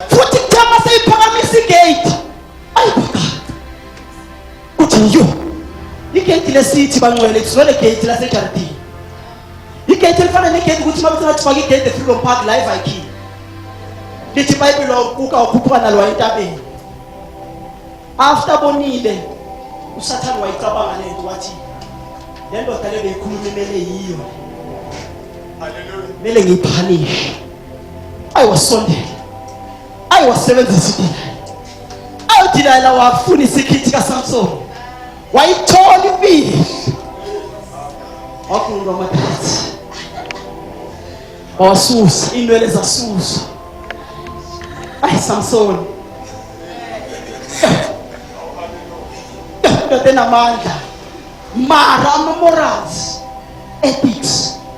futhi kuthe uma seyiphakamisa igate ayi kwaqaqa kuthi yo igate lesithi bangcwele kuzwele gate lasejardini igate elifana negate ukuthi uma kuthi ngathi faka igate efreedom park la eviking lithi ibhayibhile wawuquka wakhuphuka nalo wayentabeni after bonile usathane wayicabanga le nto wathi le ndoda le beyikhuluma imele yiyo kumele ngiyiphanishe ayi wasondela ayi wasebenzisa idina ayi udina la wafuna isikhithi kaSamson wayithola impilo wakhuluma amathathu wasusa inwele zasusa ayi Samson ndoda enamandla mara ama-morals ethics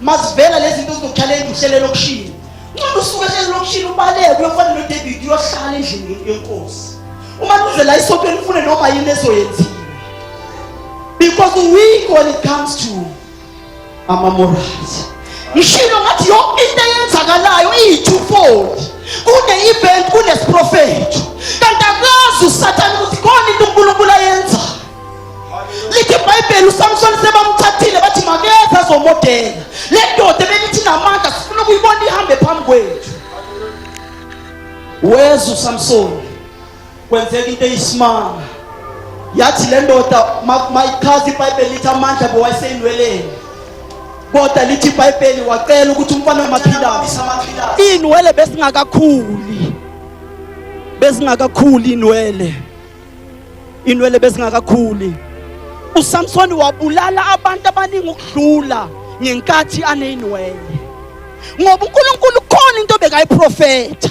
Mazivela lezi zinto zinokuhlala enduhlele lokushini. Ncono usuke ehlele lokushini ubaleke uyofana noDavid uyohlala endlini yenkosi. Uma kuzela isonto elifune noma yini ezoyenziwa. Because weak when it comes to ama morals. Ngishilo ngathi yonke into eyenzakalayo iyi-twofold. Kune-event, kunesprofetho. Kanti akazi uSathane ukuthi khona into uNkulunkulu ayenzayo. lithi ibhayibheli usamsoni sebamthathile bathi makeze azomodela le ndoda ebelithi namandla sifuna ukuyibona ihambe phambi kwethu weza usamsoni kwenzeka into eyisimanga yathi le ndoda mayichaza ibhayibheli lithi amandla bewayiseyinweleni kodwa lithi ibhayibheli wacela ukuthi umfana wamaphilasi iy'nwele besingakakhuli besingakakhuli iy'nwele inwele bezingakakhuli uSamson wabulala abantu abaningi ukudlula ngenkathi aneyinwele ngoba uNkulunkulu khona into bekayiprofetha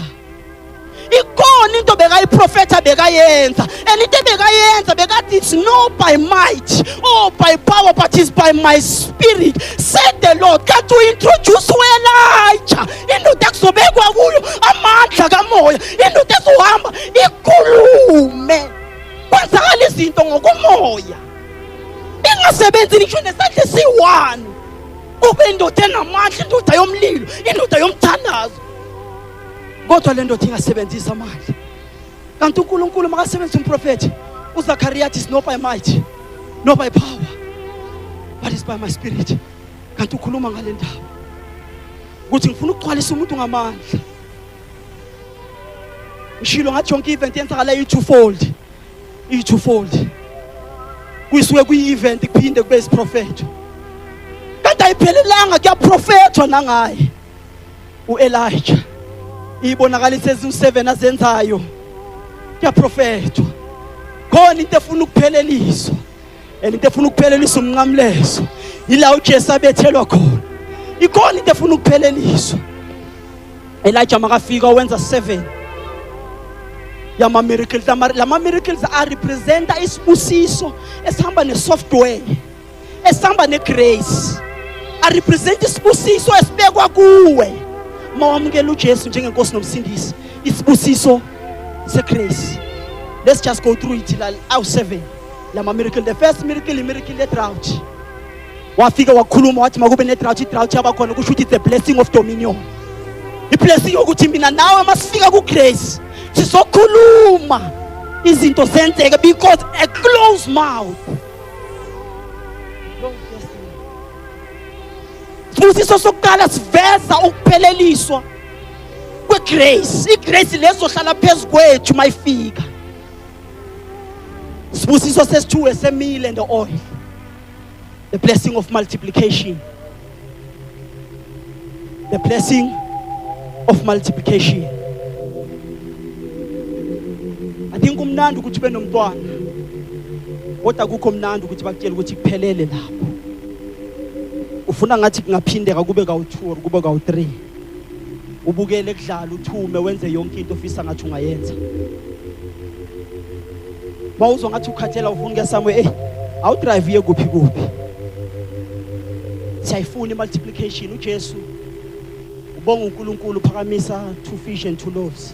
ikhona into bekayiprofetha bekayenza and into bekayenza bekathi it's no by might or by power but it's by my spirit said the lord kanti uintroduce wena ayitsha indoda kuzobekwa kuyo amandla kamoya Indoda ezohamba ikhulume kwenzakala izinto ngokomoya ingasebenzi ngisho nesandla esiyi-one ube indoda enamandla indoda yomlilo indoda yomthandazo kodwa le ndoda ingasebenzisa amandla kanti unkulunkulu makasebenzisa umprofethi uzakariya athi is not by might not by power but is by my spirit kanti ukhuluma ngale ndaba ukuthi ngifuna ukugcwalisa umuntu ngamandla ngishilo ngathi yonke i-event yenzakala iyi-twofold iyi-twofold kuyisuke kuyi-event kuphinde kube isiprofetho kanti ayiphelelanga kuyaprofethwa nangaye u-elija iyibonakalisa eziwu-seven azenzayo kuyaprofethwa khona into efuna ukupheleliswa and into efuna ukuphelelisa umnqamlezo yila uJesu abethelwa khona ikhona into efuna ukupheleliswa Elijah makafika wenza 7 yama miracles lama miracles a representa isibusiso esihamba ne software esihamba ne grace a represent isibusiso esibekwa kuwe mawamukela uJesu njengenkosi nomsindisi isibusiso se grace let's just go through it la awu 7 lama miracle the first miracle i miracle ye drought wafika wakhuluma wathi makube ne drought i drought yaba khona kusho ukuthi the blessing of dominion i blessing yokuthi mina nawe masifika ku grace sizokhuluma izinto zenzeke because a closed mouth sibusiso sokuqala siveza ukupheleliswa kwegrace igrace lezohlala phezu kwethu mayifika Sibusiso sesithu esemile and oil. The blessing of multiplication. The blessing of multiplication. I think umnandi ukuthi benomntwana. Kodwa kukho mnandi ukuthi bakutshela ukuthi kuphelele lapho. Ufuna ngathi kungaphindeka kube kawu2 or kube kawu3. ubukele kudlala uthume wenze yonke into ofisa ngathi ungayenza bawuzwa ngathi ukhathela ufuna ukuya somewhere eyi awudrive uye kuphi kuphi siyayifuna i-multiplication ujesu ubonga unkulunkulu uphakamisa two fish and two loaves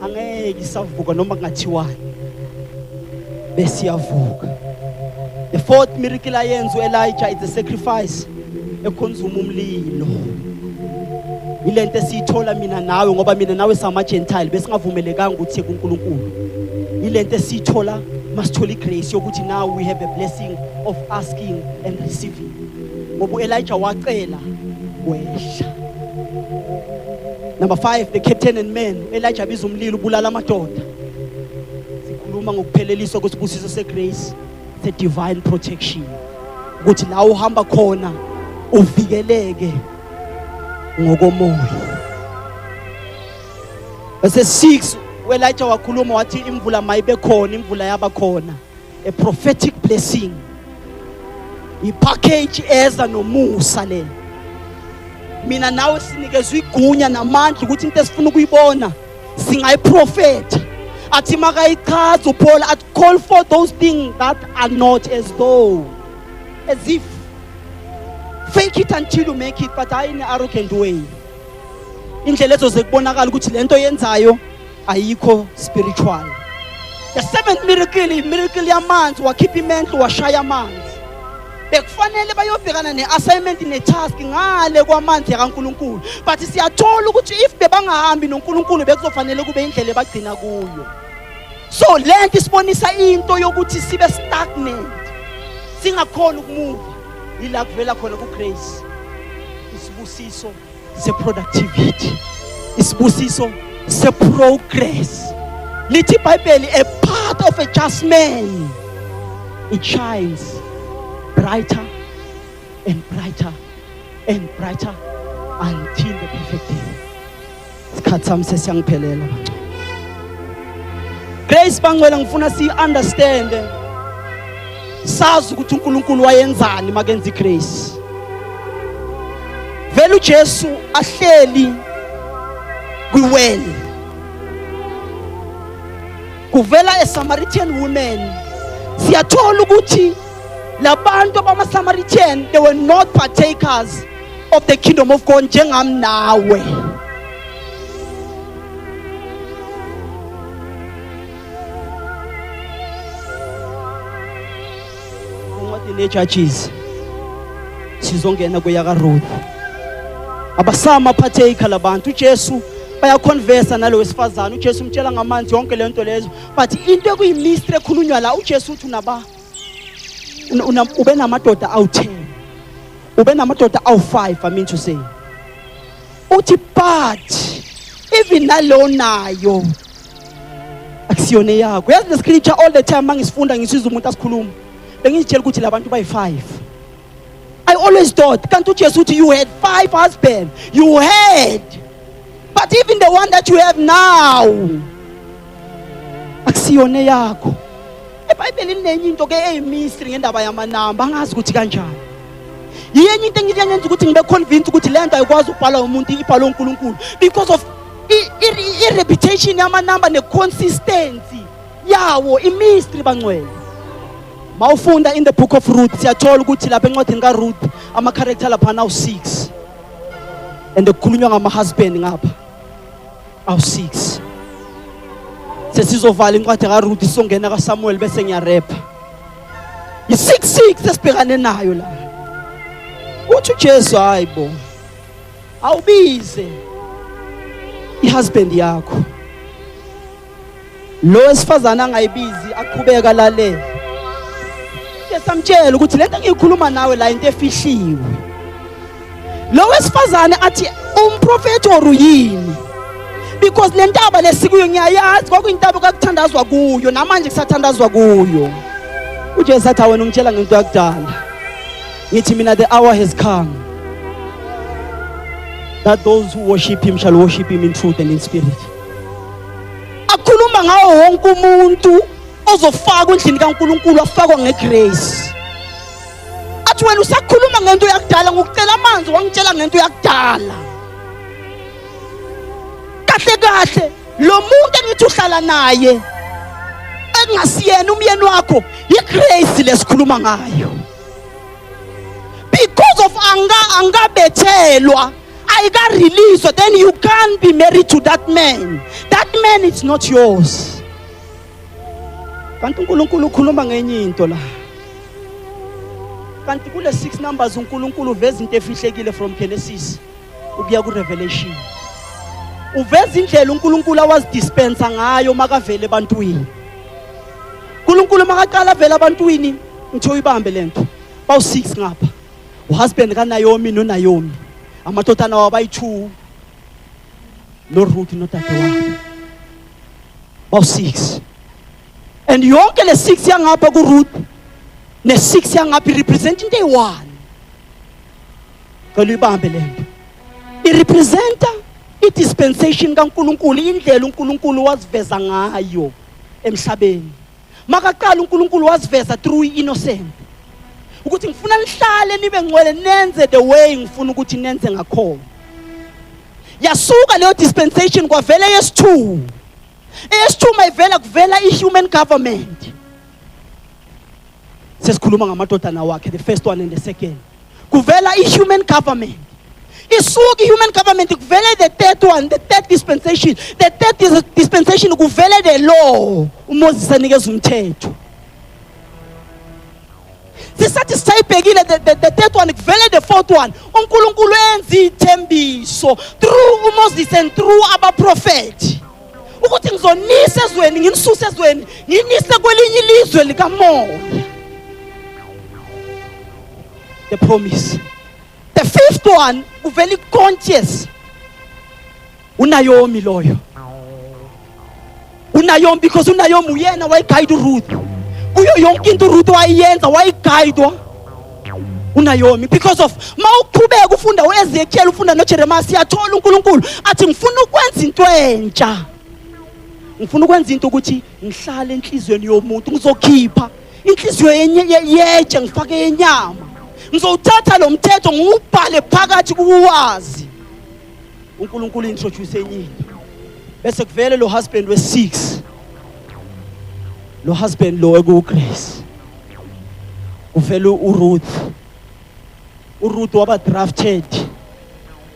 angeke isavuka noma kungathiwani besiyavuka the fourth miracle ayenza uElijah is a sacrifice ekhonzuma umlilo ilento esiyithola mina nawe ngoba mina nawe sama gentile besingavumelekanga ukuthi kuNkulunkulu ilento esiyithola masithola igrace yokuthi now we have a blessing of asking and receiving ngoba uElijah wacela wehla number 5 the captain and men uElijah biza umlilo ubulala amadoda sikhuluma ngokupheleliswa kwesibusiso segrace the divine protection ukuthi la uhamba khona uvikeleke ngokomoya bese 6 uElijah wakhuluma wathi imvula mayibe khona imvula yaba khona a prophetic blessing ipackage eza nomusa le mina nawe sinikezwe igunya namandla ukuthi into esifuna ukuyibona singayiprofetha athi makayichaza uPaul athi call for those things that are not as though as if fake it until you make it but hayi in arrogant way indlela ezoze kubonakala ukuthi lento yenzayo ayikho spiritual the seventh miracle imiracle yamanzi wakhipha imenhlo washaya amanzi bekufanele bayobhekana ne-assignment ne-task ngale kwamanzi yakankulunkulu but siyathola ukuthi if bebangahambi nonkulunkulu bekuzofanele kube indlela ebagcina kuyo so le nto isibonisa into yokuthi sibe stagnant singakhona ukumuva yila kuvela khona kugrace isibusiso seproductivity isibusiso seprogress lithi ibhayibheli a path of a just man it shines brighter and brighter and brighter until the perfect day isikhathi sami sesiyangiphelela grace bangcwele ngifuna siyi-understand sazi ukuthi unkulunkulu wayenzani makenza igrace vele ujesu ahleli kwiwele kuvela esamaritan women siyathola ukuthi labantu abamasamaritan they were not partakers of the kingdom of God njengami nawe incwadi nejudges sizongena kweyakaruth abasama partaker labantu ujesu bayakhonvesa nalo wesifazane ujesu umtshela ngamanzi yonke le nto lezo but into ekuyimistri ekhulunywa la ujesu uthi unaba ube namadoda awu-10 ube namadoda awu-5 i mean to say uthi but even nalowo nayo akusiyona eyakho yazi le scripture all the time mangisifunda ngisizwa umuntu asikhuluma bengizitshela ukuthi labantu bayi-5 I always thought, can't you just you had five husbands? You had. But even the one that you have now, akusiyona yakho. ebhayibheli linenye into ke eyimistry ngendaba yamanamba angazi ukuthi kanjani yiyenye into engiye ngenza ukuthi ngibe convince ukuthi le nto ayikwazi ukubhalwa umuntu ibhalwe unkulunkulu because of i-reputation yamanamba ne-consistency yawo imistry bangcwele mawufunda in the book of Ruth siyathola ukuthi lapha encwadini kaRuth ama character lapha nawu 6 and kukhulunywa ngama husband ngapha awu 6 sesizovala incwadi kaRuth isongena kaSamuel bese ngiyarepha i 66 esibhekane nayo la uthi uJesu hayibo awubize ihusband yakho lo wesifazane angayibizi aqhubeka lale esamtshela ukuthi lento engiyikhuluma nawe la into efihliwe lo wesifazane athi umprofeti or uyini because le ntaba lesikuyo ngiyayazi kwakuyintaba okakuthandazwa kuyo namanje kusathandazwa kuyo ujesu athi awena ungitshela ngento yakudala ngithi mina the hour has come that those who worship him shall worship him in truth and in spirit akhuluma ngawo wonke umuntu ozofakwa endlini kaNkulunkulu afakwa ngegrace athi wena usakhuluma ngento yakudala ngokucela amanzi wangitshela ngento yakudala kahle kahle lo muntu engithi uhlala naye engasiyena umyeni wakho yigrace lesikhuluma ngayo because of anga angabethelwa ayika-release then you can't be married to that man that man is not yours kanti unkulunkulu ukhuluma ngenye into la kanti kule six numbers unkulunkulu uveza into efihlekile from genesis ukuya kurevelation uveza indlela unkulunkulu awazidispensa ngayo makavele ebantwini unkulunkulu makaqala avele abantwini ngithe uyibambe le nto bawu-six ngapha uhusband kanayomi nonayomi amadodana wabo ayi-two noruthi nodadewabo bawu-six and yonke le six yangapha kuruth ne-six yangapha irepresent into eyi-one cela uyibambe le nto irepresenta i-dispensation kankulunkulu indlela unkulunkulu waziveza ngayo emhlabeni makaqala uNkulunkulu wasiveza through innocent ukuthi ngifuna nihlale nibe ngcwele nenze the way ngifuna ukuthi nenze ngakhona yasuka leyo dispensation kwavela eyesithu eyesithu mayivela kuvela i-human government sesikhuluma ngamadodana wakhe the first one and the second kuvela i-human government isuka i-human government kuvele the third one the third dispensation the third dis dispensation kuvele the law umoses anikeza umthetho sisathi sisayibhekile the, the, the third one kuvele the fourth one unkulunkulu enza iy'thembiso through umoses and through abaprofethi ukuthi ngizonisa ezweni nginisuse ezweni nginise kwelinye ilizwe likamoya the promise the fifth one uvela i-conscious unayomi loyo unayomi because unayomi uyena wayigayida uruth kuyo yonke into uruth wayiyenza wayigayidwa unayomi because of ma uqhubeka ufunda uezekiel ufunda nojeremiya siyathola unkulunkulu athi ngifuna ukwenza into entsha ngifuna ukwenza into ukuthi ngihlale enhliziyweni yomuntu ngizokhipha inhliziyo yetshe ngifake yenyama ngizowuthatha lo mthetho ngiwubhale phakathi kuwazi uNkulunkulu introduce enye into bese kuvele lo husband we6 lo husband lo ekuGrace kuvele uRuth uRuth waba drafted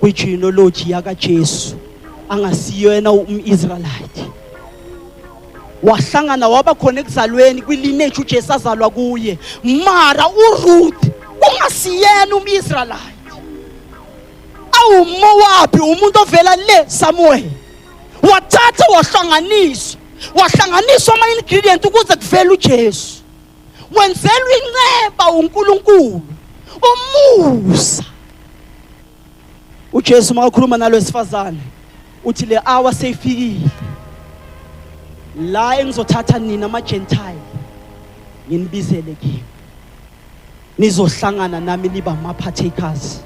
kwigenealogy yakaJesu angasiyo yena umIsraelite wahlangana waba khona ekuzalweni kwilineage uJesu azalwa kuye mara uRuth kungasiyena umIsraelite awumowabi umuntu ovela le samuweli wathatha wahlanganisa wahlanganiswa ama-ingredient ukuze kuvele ujesu wenzelwa inceba unkulunkulu umusa ujesu makakhuluma nalo wesifazane uthi le hour seyifikile la engizothatha nina amajentile nginibizele kimi nizohlangana nami niba ama-partakers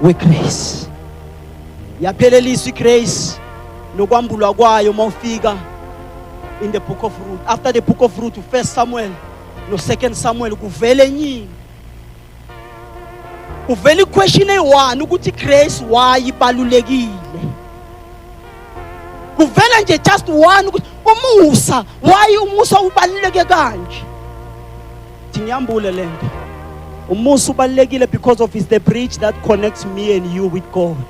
wegrace yapheleliswa igrace nokwambulwa kwayo uma ufika in the book of root after the book of root ufirst samuel nosecond samuel kuvele enyingi kuvela iquestion eyi-one ukuthi grace why ibalulekile kuvela nje just one ukuthi umusa why umusa ubaluleke kanje ngiyambule lento umusa ubalulekile because of is the bridge that connects me and you with God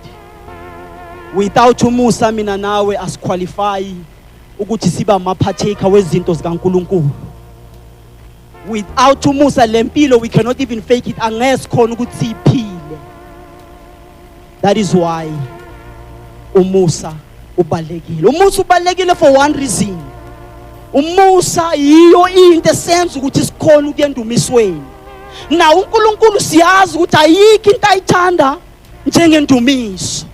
without umusa mina nawe asiqualify ukuthi siba amaphatheka wezinto zikaNkuluNkulu without umusa lempilo we cannot even fake it angesikhona ukuthi siphile that is why umusa ubalekile umusa ubalekile for one reason umusa yiyo into esenza ukuthi sikhona ukuyendumisweni na uNkulunkulu siyazi ukuthi ayikho into ayithanda njengendumiso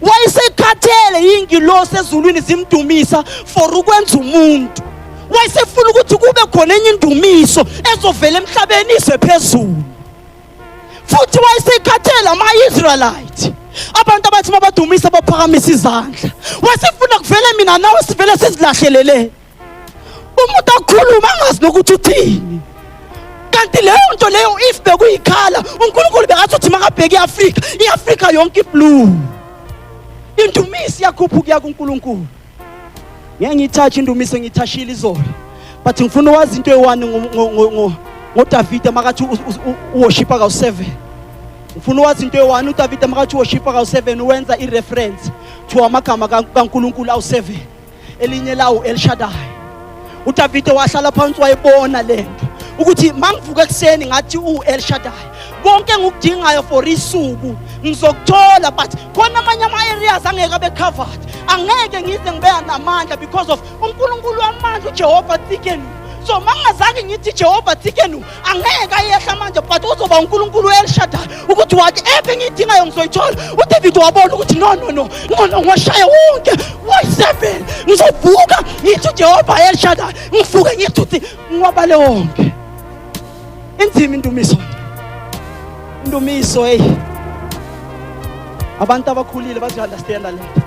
wayesekhathele yingilosi ezulwini zimdumisa for ukwenza umuntu wayesefuna ukuthi kube khona enye indumiso ezovela emhlabeni ize phezulu futhi wayesekhathele ama-israelite abantu abathi mabadumisa baphakamisa izandla wasifuna kuvele mina nawe sivele sizilahlelele umuntu akhuluma angazi nokuthi uthini kanti leyo nto leyo if bekuyikhala unkulunkulu bekathi uthi makabheke i-afrika i-afrika yonke iblue indumiso iyakhuphuka kuya kunkulunkulu ngeke ngiyithathe indumise ngiyithashile izolo but ngifuna wazi into eyi-one ngodavide makathi uwoshipa kawu-seven ngifuna wazi into eyi-one udavide makathi uwoshipa kawu-seven wenza i-reference to amagama kankulunkulu awu-seven elinye lawo elishadayo udavide wahlala phansi wayibona le nto ukuthi mangivuka ekuseni ngathi u-elshadayi konke engikudingayo for isuku ngizokuthola but khona amanye ama-areas angeke abe covered angeke ngize ngibeya namandla because of unkulunkulu wamandla ujehova thikenu so mangazange ngithi jehova thikenu angeke ayehla manje but uzoba uNkulunkulu elishada ukuthi wathi ephe engiyidingayo ngizoyithola uDavid wabona ukuthi no no no ngono ngwashaya wonke wayi-seven ngizovuka ngithi uJehova elishada ngivuke ngithi uthi ngiwabale wonke inzima indumiso indumiso hey abantu abakhulile bazoyunderstanda le nto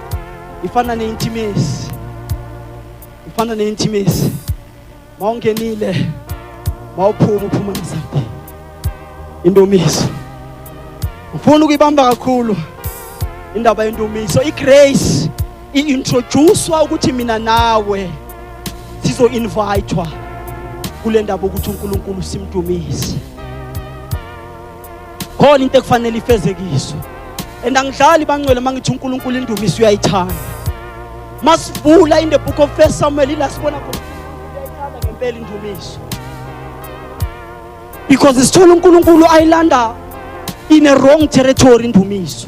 ifana neintimesi ifana neintimesi mawungenile mawuphuma uphuma nezaphi indumiso ngifuna ukuyibamba kakhulu indaba yendumiso igrace i-introducwa ukuthi mina nawe sizo-invayithwa kule ndaba ukuthi unkulunkulu simdumise khona into ekufanele ifezekiswe and angidlali bangcwele uma ngithi unkulunkulu indumiso uyayithanda masivula in the book of first samuel ila sibona khona uyayithanda ngempela indumiso because sithola unkulunkulu ayilanda in a wrong territory indumiso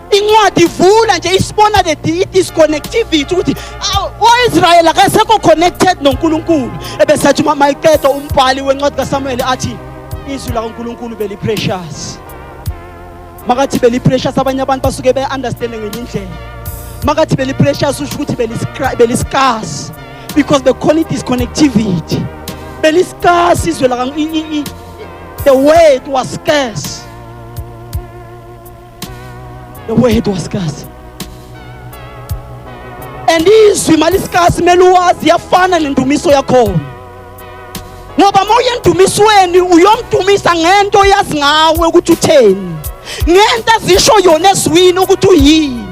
incwadi ivula nje isibona the disconnectivity ukuthi o-israyeli akasekho connected nonkulunkulu ebesathi uma mayiqeda umbhali wencwadi kasamuweli athi izwi lakankulunkulu beliprecious makathi beliprecious abanye abantu basuke be-understande ngenye indlela makathi beliprecious usho ukuthi beliscarce because bekhona i-disconnectivity beliscarce izwe the word was scarce The word was scarce. And izwi malisikasi kumele uwazi yafana nendumiso yakhona ngoba uma uyendumisweni uyomdumisa ngento oyazi ngawe ukuthi utheni ngento azisho yona ezwini ukuthi uyini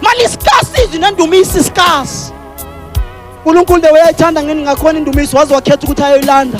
malisikasi izwi nendumiso isikasi unkulunkulu de wayayithanda ngeni ngakhona indumiso waze wakhetha ukuthi ayoyilanda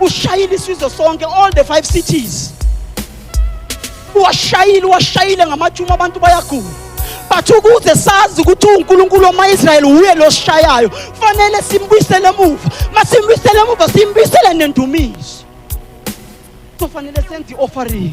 ushayile isizwe sonke all the five cities uwashayile uwashayile ngamatshuma abantu bayagula but ukuze sazi ukuthi uNkulunkulu wama-Israyeli wuye losishayayo kufanele simbuyisele emuva masimbuyisele emuva simbuyisele nendumiso kufanele senze i-offering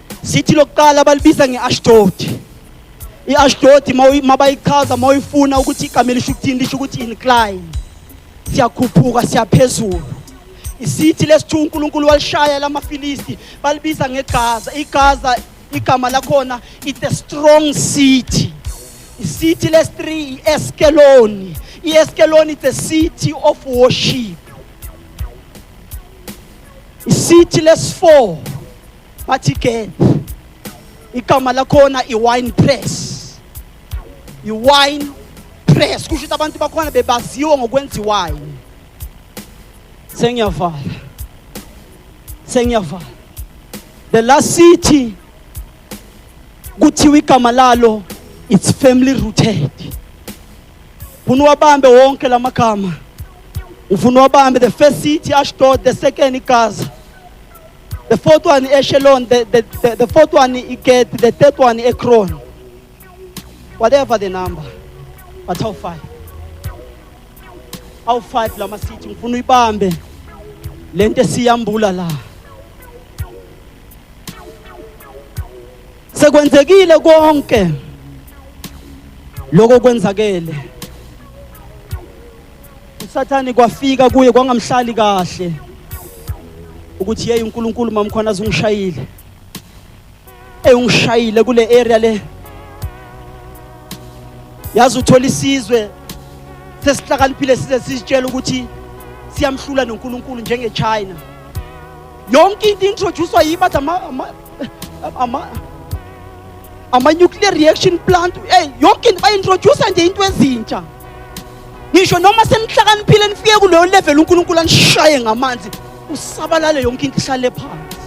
Sithi lokuqala balibiza nge-Ashdodi. I-Ashdodi mabayichaza mawuyifuna ukuthi igama elisho ukuthini lisho ukuthi incline. Siyakhuphuka siyaphezulu. Isithi lesithu uNkulunkulu walishaya lamaFilisti balibiza ngeGaza. IGaza igama lakhona it's a strong city. Isithi lesi-3 i-Eskeloni. I-Eskeloni it's a city of worship. Isithi lesi-4 bathi ke igama lakhona i-wine press i-wine press kusho ukuthi abantu bakhona bebaziwa ngokwenza iwayini sengiyavala sengiyavala the last city kuthiwa igama lalo it's family rooted ufuna uwabambe wonke la magama ufuna uwabambe the first city ashdod the second igaza The fourth one Echelon, the, the, the, the fourth one Iket, the third one Ekron. Whatever the number. But how five? How five la masithi ngifuna uyibambe lento esiyambula la. Sekwenzekile konke lokho kwenzakele. usathane kwafika kuye kwangamhlali kahle ukuthi yeyi unkulunkulu mamkhona azungishayile eyi ungishayile kule area le yazi uthola isizwe sesihlakaniphile size sisitshela ukuthi siyamhlula nonkulunkulu njengechina yonke into introducwa yibo athi ama-nuclear reaction plant eyi yonke into bayi-introducer nje into ezintsha ngisho noma senihlakaniphile nifike kuleyo level uNkulunkulu anishaye ngamanzi usabalale yonke into ihlale phansi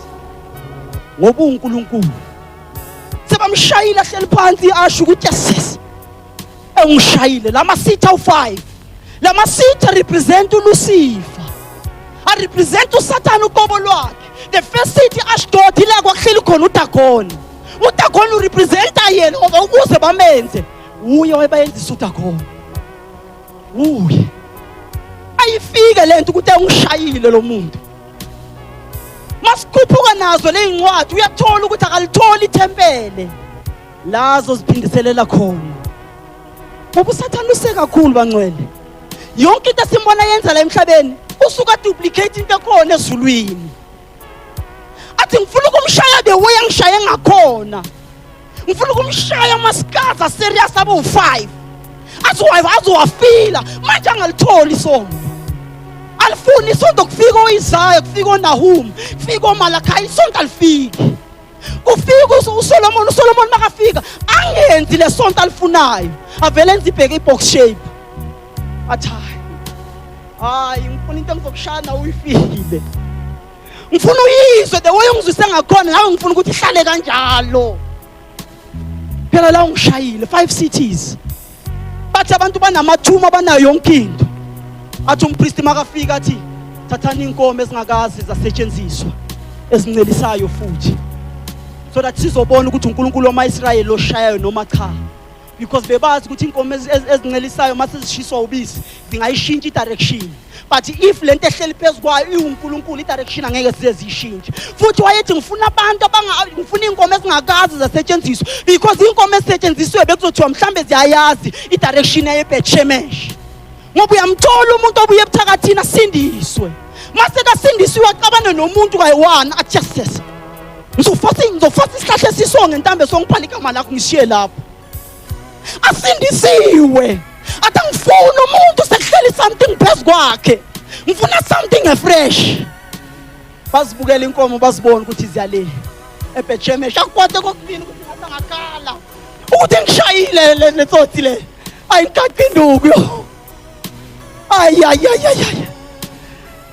ngoba uNkulunkulu sebamshayile ahleli phansi asho ukuthi yes engishayile lama sitha u5 lama sitha represent uLucifer a represent uSathana uqobo lwakhe the first city Ashdod ila kwakuhleli khona uDagoni uDagoni urepresenta yena ukuze bamenze wuye wayebayenza isutha khona wuye ayifike lento ukuthi angishayile lo muntu masikhuphuka nazo lezincwadi uyathola ukuthi akalitholi ithempele lazo ziphindiselela khona ngoba usathane use kakhulu bangcwele yonke into esimbona yenza la emhlabeni usuka duplicate into ekhona ezulwini athi ngifuna ukumshaya the way angishaye ngakhona ngifuna ukumshaya umasikhaza serious abe u5 azowayiva azowafila manje angalitholi isonto alifuni isonto kufika oyizayo kufika onahum kufika omalakhaya isonto alifiki kufika usolomoni usolomoni makafika angenzi le sonto alifunayo avele enze ibheke i-box shape athi hayi hayi ngifuna into engizokushaya nawe uyifile ngifuna uyizwe the way ungizwise ngakhona ngawe ngifuna ukuthi ihlale kanjalo phela la ungishayile five cities bathi abantu banamathuma banayo yonke into athi umpristi makafika athi thathani inkomo ezingakazi zasetshenziswa ezincelisayo futhi so that sizobona ukuthi uNkulunkulu wamaIsrayeli oshayayo noma cha because bebazi ukuthi inkomo ezincelisayo mase zishiswa ubisi zingayishintsha idirection but if lento ehleli phezukwayo iwuNkulunkulu idirection angeke size zishintshe futhi wayethi ngifuna abantu abanga ngifuna inkomo ezingakazi zasetshenziswa because inkomo esetshenziswe bekuzothiwa mhlambe ziyayazi idirection yebetshemesh ngoba uyamthola umuntu obuye ebuthakathini asindiswe mase kasindiswe waxabane nomuntu kayi-one ajeses ngizofasa ngizofasa isihlahla esisonge ntambe songiphala igama lakho ngishiye lapho asindisiwe athi angifuni umuntu sekuhleli something phezu kwakhe ngifuna something efresh bazibukela inkomo bazibona ukuthi ziyale ebhejemesha akukwate kokubini ukuthi ngathi angakhala ukuthi ngishayile le tsotsi le Ay, kakinubyo. Ay, ay, ay, ay, ay.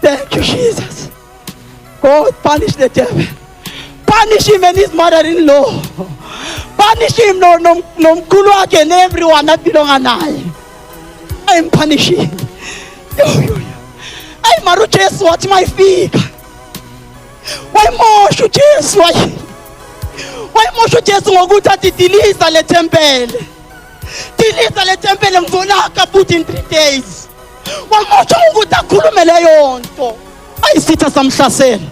Thank you, Jesus. God, punish the devil. Punish him and his mother-in-law. Punish him no, no, no, wakhe and everyone that belong naye. I am punishing. Yo, yo, yo. Ay, maru Jesu wathi mayifika. Wayimosha uJesu wayi. Wayimosha uJesu ngokuthi adidiliza le tempele. Dilisa le tempele ngizolaka futhi in three days. Wamutsho ukuthi akhulume leyo nto. Ayisitha samhlasela.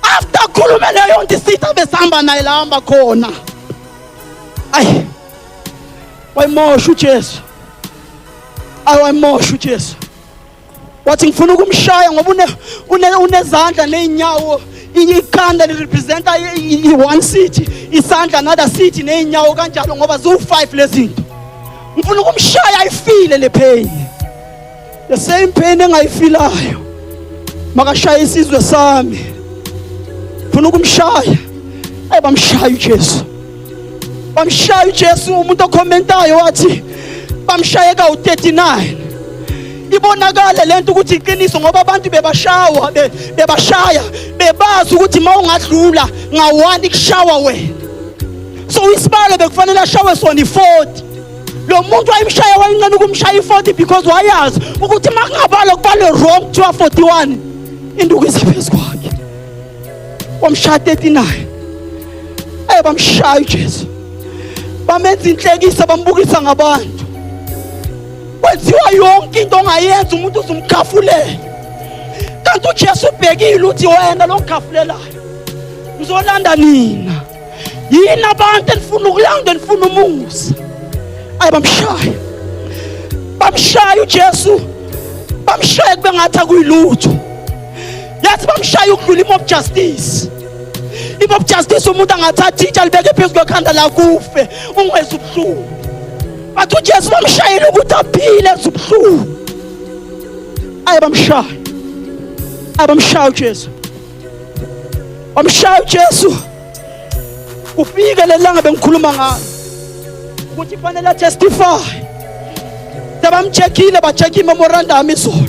After akhulume leyo nto isitha besihamba naye la hamba khona. Ayi. Wayimosha uJesu. Ayi wayimosha uJesu. wathi ngifuna ukumshaya ngoba une une unezandla nezinyawo ikhanda li representa i one city isandla another city nezinyawo kanjalo ngoba zu five lezinto ngifuna ukumshaya ayifile le pain the same pain engayifilayo makashaya isizwe sami ngifuna ukumshaya ayibamshaya uJesu bamshaya uJesu umuntu okhomentayo wathi bamshaye ka u39 ibonakala lento ukuthi iqiniso ngoba abantu bebashawa bebashaya bebazi ukuthi mawungadlula ngawani kushawa wena so isibalo bekufanele ashawe sona i40 lo muntu wayimshaya wayincane ukumshaya i40 because wayazi ukuthi makungabalo kubalo wrong kuthiwa 41 induku isaphezu kwakhe wamshaya 39 eh bamshaya uJesu bamenza inhlekisa bambukisa ngabantu kwenziwa yonke into ongayenza umuntu uzumkhafulela kanti uJesu ubhekile uthi wena lo ngikhafulelayo ngizolanda nina yini abantu enifuna ukulanda enifuna umusa ayi bamshaya bamshaya uJesu bamshaya kube ngathi akuyilutho yathi bamshaya ukudlula imob justice imob justice umuntu angathatha itsha libeke phezu kwekhanda lakufe ungweza ubuhlungu bathi ujesu bamshayela ukuthi aphile eza ubuhlungu aye bamshaya abamshaya ujesu wamshaya ujesu kufike lelanga bengikhuluma ngalo ukuthi fanele atestify sebamchekhile bacheck imemorandum izolo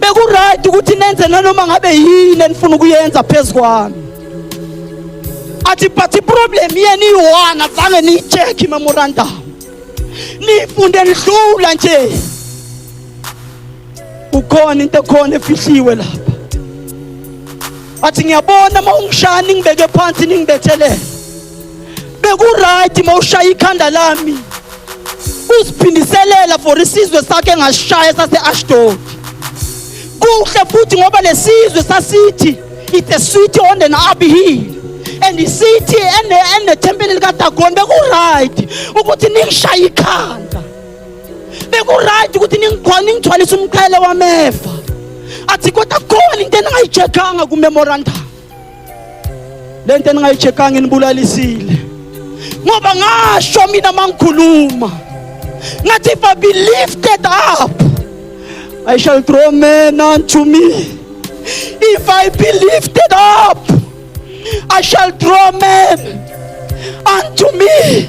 bekurayidi ukuthi nenze nanoma ngabe yini enifuna ukuyenza phezu kwami athi but iproblem yenu iyi-one azange niyi-check imemorandum niyifunde nidlula nje kukhona into ekhona efihliwe lapha athi ngiyabona uma ungishaya ningibeke phansi ningibethelele bekuright mawushaya ikhanda lami uziphindiselela for isizwe sakhe engashaya sase-ashdod kuhle futhi ngoba lesizwe sasithi it's a city on an up hill and isithi enethempeli likadagoni bekuright ukuthi ningishaye ikhanda bekuright ukuthi ningithwalise umqhele wamefa athi kodwa khona into eningayijekanga kumemorandum le nto eningayi-check-anga inibulalisile ngoba ngasho mina uma ngikhuluma ngathi if i be lifted up i shall draw men unto me if i be lifted up i shall draw men unto me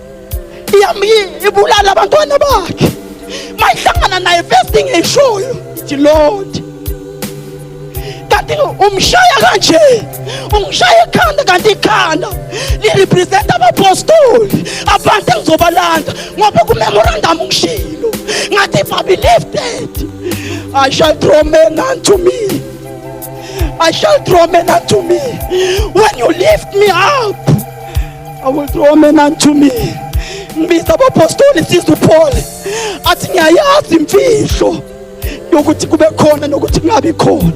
ibulala abantwana bakhe mayihlangana naye first thing eyishoyo ithi lord kanti umshaya kanje ungishaya ekhanda kanti ikhanda lirepresenta abapostoli abantu engizobalanda ngoba kumemorandum ngishilo ngathi if i be lifted i shall draw men unto me I shall draw men unto me. When you lift me up, I will draw men unto me. Ngibiza abapostoli siza uPaul athi ngiyayazi imfihlo yokuthi kube khona nokuthi kungabi khona.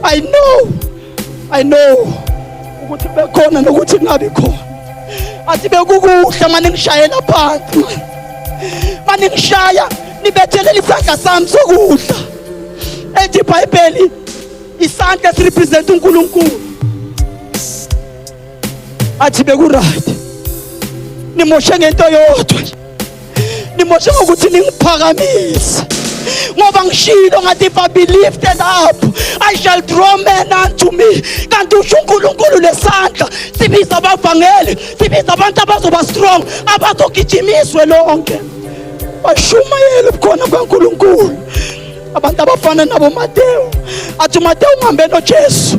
I know. I know ukuthi kube khona nokuthi kungabi khona. Athi bekukuhle manje ngishayela phansi. Manje ngishaya nibethelela isandla sami sokudla. Ethi iBhayibheli isandla sirepresent uNkulunkulu. athi beku-right nimoshe ngento yodwa nje nimoshe ngokuthi ningiphakamise ngoba ngishilo ngathi if i be lifted up i shall draw men unto me kanti usho unkulunkulu lesandla sibiza abavangeli sibiza abantu abazoba strong abazogijimiswe lonke bashumayele ubukhona bukankulunkulu abantu abafana nabomatewu athi umatewu uhambe nojesu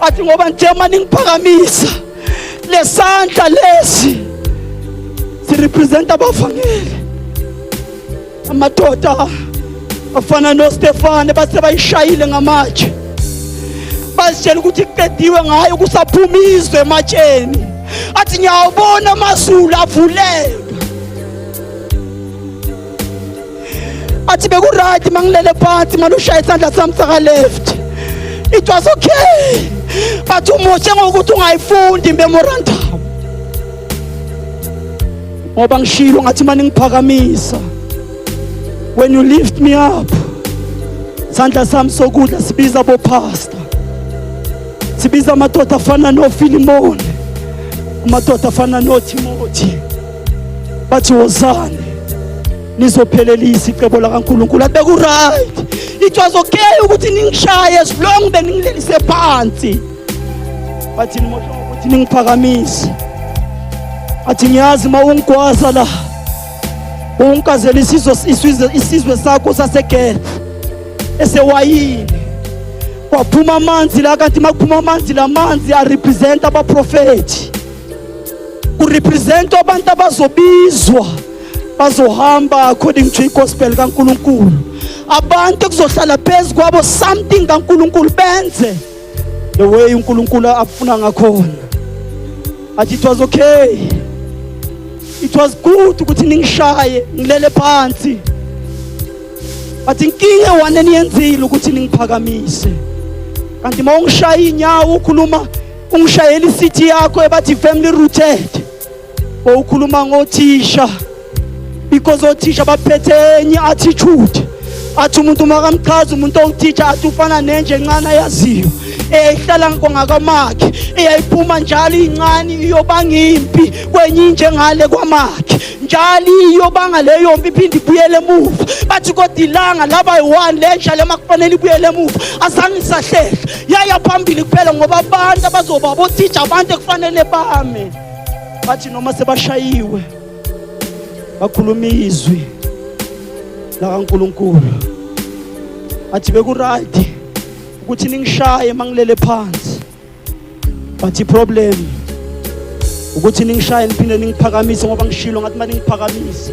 athi ngoba nje uma ningiphakamisa lesandla lesi sirepresenta abavangeli amadoda afana noStefane base bayishayile ngamatshe bazitshela ukuthi kuqediwe ngayo kusaphuma izwe ematsheni athi ngiyawubona amazulu avuleke athi bekurayiti uma ngilele phansi mane ushaya isandla sami sakaleft it was okay but umoshe ngokuthi ungayifundi imemorandum ngoba ngishilo ngathi mane ngiphakamisa when you lift me up sandla sami sokudla sibiza bophasta sibiza amadoda afana nofilimoni amadoda afana nothimothi bathi wozani nizophelelisa icebo lakaNkulunkulu athi bekuright it was okay ukuthi ningishaye as long beningilelise phansi bathi nimosha ukuthi ningiphakamise athi ngiyazi uma ungigwaza la ungigazela isizwe isizwe isizwe sakho saseGeth esewayini kwaphuma amanzi la kanti makuphuma amanzi lamanzi a represent abaprofeti urepresent abantu abazobizwa bazohamba according to igospel kaNkuluNkulu abantu kuzohlala phezu kwabo something kaNkuluNkulu benze the way uNkuluNkulu afuna ngakhona athi it was okay it was good ukuthi ningishaye ngilele phansi but inkinga one eniyenzile ukuthi ningiphakamise kanti uma ungishaya inyawo ukhuluma ungishayela i-city yakho ebathi family rooted wawukhuluma ngothisha because othisha baphethe enye attitude athi umuntu makamchaza umuntu owuthisha athi ufana nenje encane ayaziyo eyayihlala ngongakamakhe eyayiphuma njalo incane iyobanga impi kwenye inje ngale kwamakhe njalo iyobanga leyo mpi iphinde ibuyele emuva bathi kodwa ilanga laba yi-one lenja le makufanele ibuyele emuva azange isahlehla yaya phambili kuphela ngoba abantu abazoba bothisha abantu ekufanele bame bathi noma sebashayiwe bakhuluma izwi lakaNkuluNkulu athi bekurayt ukuthi ningishaye mangilele phansi but iproblem ukuthi ningishaye niphinde ningiphakamise ngoba ngishilo ngathi uma ningiphakamise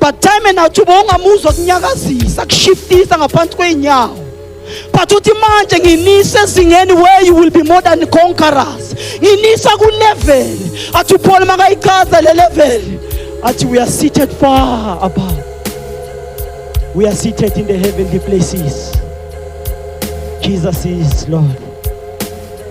but time and out uba ungamuzwa kunyakazisa kushiftisa ngaphansi kwey'nyawo but uthi manje nginise ezingeni where you will be more than conquerors nginisa kulevel athi uphole makayichaza le level athi we are seated far above we are seated in the heavenly places jesus is lord